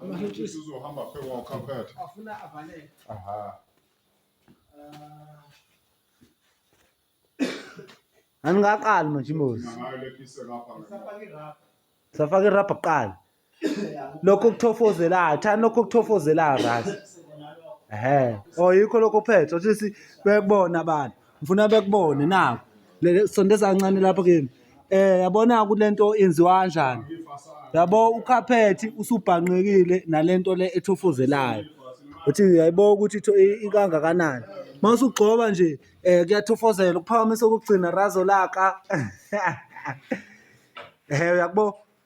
Amahentshisi uzohamba phe kwawo carpet. Afuna avaleke. Aha. Aningaqali manje imbuzi. Ngayo lephise lapha. Safake rap. Safake rap kuqala. Lokho kuthofozelayo, thani lokho kuthofozelayo right. Ehe. Oh yikho lokho phethe, othi sibekubona abantu. ngifuna bekubone naku sondeza kancane lapho kimi eh yabona kulento yenziwa kanjani yabo ukhaphethi usubhanqekile nalento le ethofozelayo uthi yayibo ukuthi ikangakanani uma usugxoba nje um kuyathofozela ukuphakamisa okugcina razo laka um uyakubo